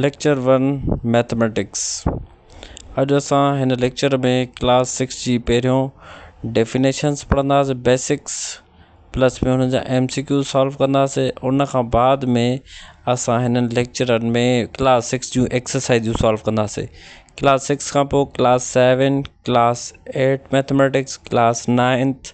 Lecture one mathematics اڄ اسان هن ليڪچر ۾ ڪلاس سڪس جي پهريون ڊيفينيشنس پڙهنداسين بيسڪس پلس ۾ هن جا ايم سي ڪيو سالو ڪنداسين ان کان بعد ۾ اسان هنن ليڪچرن ۾ ڪلاس سڪس جون ايڪسرسائزون سالو ڪنداسين ڪلاس سڪس کان پوء class seven class eight mathematics class ninth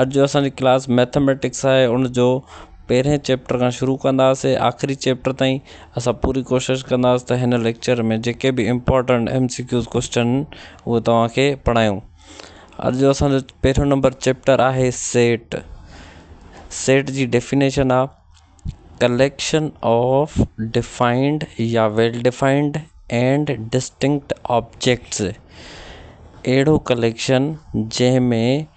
اڄ جو اسان جي ڪلاس مئٿميٽڪس آهي ان جو پهرين چيپٽر کان شروع ڪنداسين آخري چيپٽر تائين اسان پوري ڪوشش ڪنداسين ته هن ليڪچر ۾ جيڪي به important M C Qs question اهو توهانکي پڙهايون اڄ جو اسان جو پهريون نمبر چيپٽر آهي سيٽ سيٽ جي ڊيفينيشن آهي ڪليڪشن آف ڊفائنڊ يا well defined and distinct objects اهڙو ڪليڪشن جنهن ۾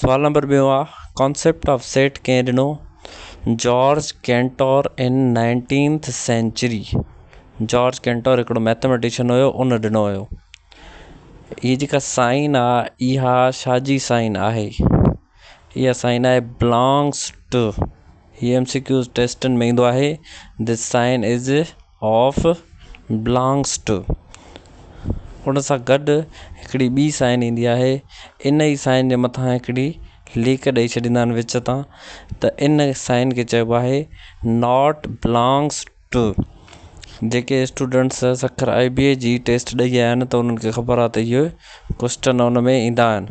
سوال نمبر ٻيو آ ڪانسيپٽ آف سيٽ ڪنهن ڏنو؟ جارج ڪينٽور ان نائنٽينٿ سينچري جارج ڪينٽور هڪڙو ميٿميٽيشن هيو ان ڏنو هيو هي جيڪا سائن آ اها شاهه جي سائن آهي اها سائن آهي بلانگس ٽو هي ايم سي ڪيو ٽيسٽن ۾ ايندو آهي this sign is of belongs to ان سان گڏ هڪڙي ٻي سائن ايندي آهي ان ئي سائن جي مٿان هڪڙي ليڪ ڏئي ڇڏيندا آهن وچ تان ته ان سائن کي چئبو آهي ناٽ بلانگس ٽو جيڪي students Sukkur I B A جي ٽيسٽ ڏئي آيا آهن ته انهن کي خبر آهي ته اهو ڪوسٽن ان ۾ ايندا آهن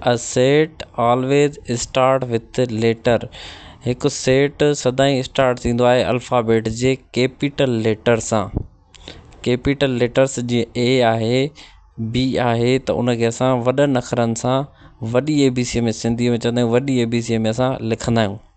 A set always starts with letter هڪ سيٽ سدائين اسٽارٽ ٿيندو آهي الفابيٽ جي ڪيپيٽل ليٽر سان ڪيپيٽل ليٽرس جيئن اي آهي بي آهي ته ان کي اسان وڏن اکرن سان وڏي اي بي سي ۾ سنڌي ۾ چوندي وڏي اي بي سي ۾ اسان لکندا آهيون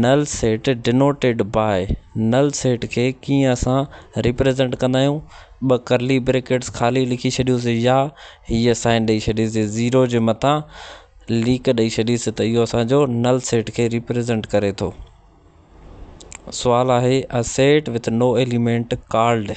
نل سيٽ ڊينوٽيڊ باء نل سيٽ کي ڪيئن اسان ريپريزينٽ ڪندا آهيون ٻه ڪرلي بريڪيٽس خالي لکي ڇڏيوسي يا هيء سائن ڏئي ڇڏيسي زيرو جي مٿان ليڪ ڏئي ڇڏيسي ته اهو اسان جو نل سيٽ کي ريپريزينٽ ڪري ٿو سوال آهي A set with no element called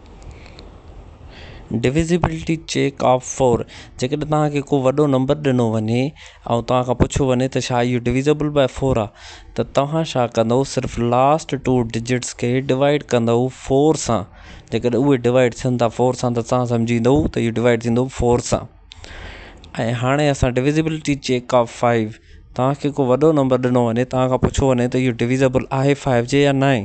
divisibility check of four جيڪڏهن توهان کي ڪو وڏو نمبر ڏنو وڃي ۽ توهان کان پڇيو وڃي ته ڇا اهو ڊويزيبل بائي فور آهي ته توهان ڇا ڪندو صرف لاسٽ ٽو ڊجٽس کي ڊوائڊ ڪندو فور سان جيڪڏهن اهي ڊوائڊ ٿين ٿا فور سان ته توهان سمجهندو ته اهو ڊوائڊ ٿيندو فور سان ۽ هاڻي اسان ڊويزيبلٽي چيڪ آف فائيو تاکي ڪو وڏو نمبر ڏنو وڃي تان کان پڇو وڃي ته اهو ڊويزيبل آهي فائيو جي يا ناهي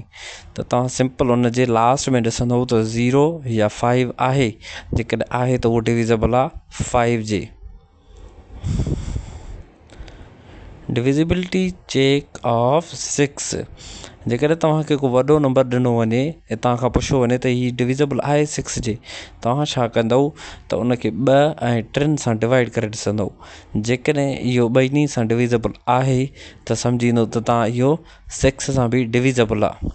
ته تان سمپل ان جي لاسٽ ۾ ڏسندو ته زيرو يا فائيو آهي جيڪڏهن آهي ته اهو ڊويزيبل آهي فائيو جي ڊويزيبلٽي چيڪ آف سڪس جيڪڏهن توهان کي ڪو وڏو نمبر ڏنو وڃي ۽ توهان کان پڇيو وڃي ته هي ڊويزيبل آهي سڪس جي توهان ڇا ڪندو ته ان کي ٻ ۽ ٽن سان ڊوائيڊ ڪري ڏسندو جيڪڏهن اهو ٻنهي سان ڊويزيبل آهي ته سمجهندو ته توهان اهو سڪس سان بي ڊويزيبل آهي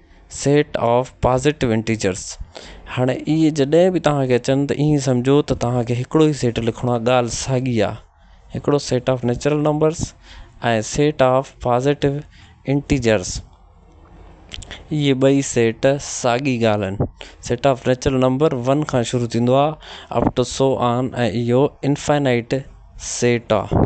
سيٽ آف پازيٽو انٽيجرس هاڻي اهي جڏهن به توهان کي اچن ته ايئن سمجهو ته توهان کي هڪڙو ئي سيٽ لکڻو آهي ڳالهه ساڳي آهي هڪڙو set of natural numbers ۽ set of positive integers اهي ٻئي سيٽ ساڳي ڳالهه آهن set of natural number one کان شروع ٿيندو آهي اپ ٽو سو آن ۽ اهو انفائنائٽ سيٽ آهي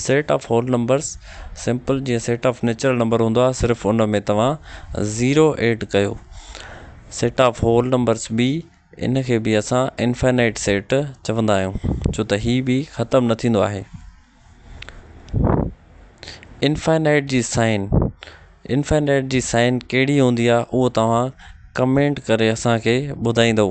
set of whole numbers simple جيئن سيٽ آف نيچرل نمبر هوندو آهي صرف ان ۾ توهان زيرو ايڊ ڪيو سيٽ آف هول نمبرز بي ان کي به اسان انفينائيٽ سيٽ چوندا آهيون ڇو ته هي به ختم نه ٿيندو آهي انفينائيٽ جي سائين انفينائيٽ جي سائين ڪهڙي هوندي آهي اهو توهان ڪمينٽ ڪري اسان کي ٻڌائيندو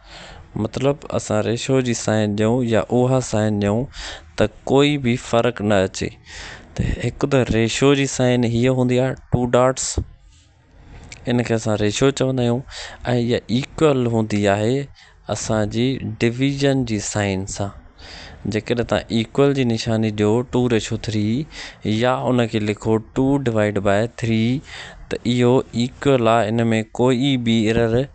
مطلب اسان ريشو جي سائين ڏيون يا اها سائين ڏيون ته ڪوئي به فرق نه اچي ته هڪ ته ريشو جي سائين هيء هوندي آهي ٽو ڊاٽس ان کي اسان ريشو چوندا آهيون ۽ هيء ايڪول هوندي آهي اسانجي ڊويزن جي سائين سان جيڪڏهن تان ايڪول جي نشاني ڏيو ٽو ريشو ٿري يا ان کي لکو ٽو ڊوائيڊ بائي ٿري ته اهو ايڪول آهي ان ۾ ڪوئي به ايرر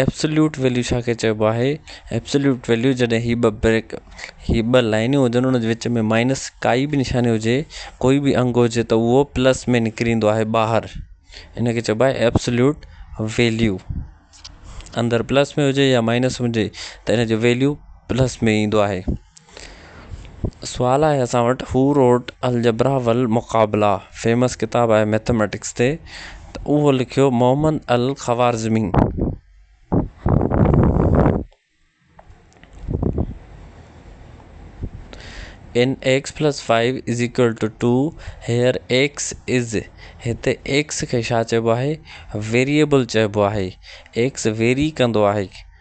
ايبسوليوٽ ويليو ڇا کي چئبو آهي؟ ايبسوليوٽ ويليو جڏهن هي ٻه بريڪ هي ٻه لائنون هجن ان جي وچ ۾ مائنس ڪائي به نشاني هجي ڪوئي به انگ هجي ته اهو پلس ۾ نڪري ايندو آهي ٻاهر ان کي چئبو آهي ايبسوليوٽ ويليو اندر پلس ۾ هجي يا مائنس هجي ته ان جو ويليو پلس ۾ ايندو آهي سوال آهي اسان وٽ هو روٽ الجبرا ول مقابلا فيمس ڪتاب آهي ميٿميٽڪس تي ته اهو لکيو Muhammad al Khwarizmi in x plus five is equal to two two ايڪس از هتي ايڪس کي ڇا چئبو آهي ويريبل چئبو آهي ايڪس ويري ڪندو آهي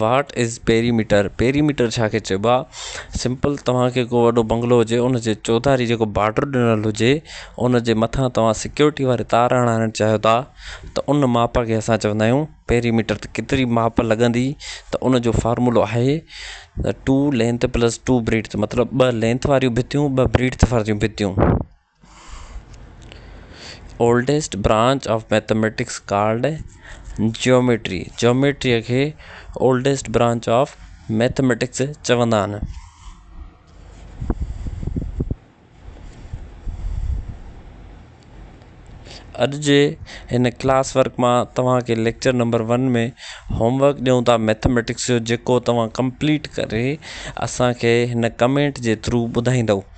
واٽ از پيريميٽر، Perimeter، ڇا کي چئبو آ سمپل توهان کي ڪو وڏو بنگلو هجي ان جي چوڌاري جيڪو بارڊر ڏنل هجي ان جي مٿان توهان سڪيورٽي واري تار هڻائڻ چاهيو ٿا ته ان ماپ کي اسان چوندا آهيون پيريميٽر ته ڪيتري ماپ لڳندي ته ان جو فارمولو آهي two length plus two breadth مطلب ٻه لينٿ واريون ڀتيون ٻه بريڊٿ واريون ڀتيون oldest branch of mathematics called geometry Geometry geometry کي اولڊيسٽ برانچ آف ميٿميٽڪس چوندا آهن اڄ جي هن ڪلاس ورڪ مان توهان کي lecture number one ۾ homework ڏيون ٿا ميٿميٽڪس جو جيڪو توهان ڪمپليٽ ڪري اسان کي هن ڪمينٽ جي ٿرو ٻڌائيندو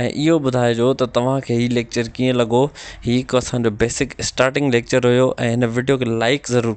۽ اهو ٻڌائجو ته توهان کي هي ليڪچر ڪيئن لڳو هي هڪ اسانجو بيسڪ اسٽارٽنگ ليڪچر هيو ۽ هن وڊيو کي لائڪ ضرور ڪجو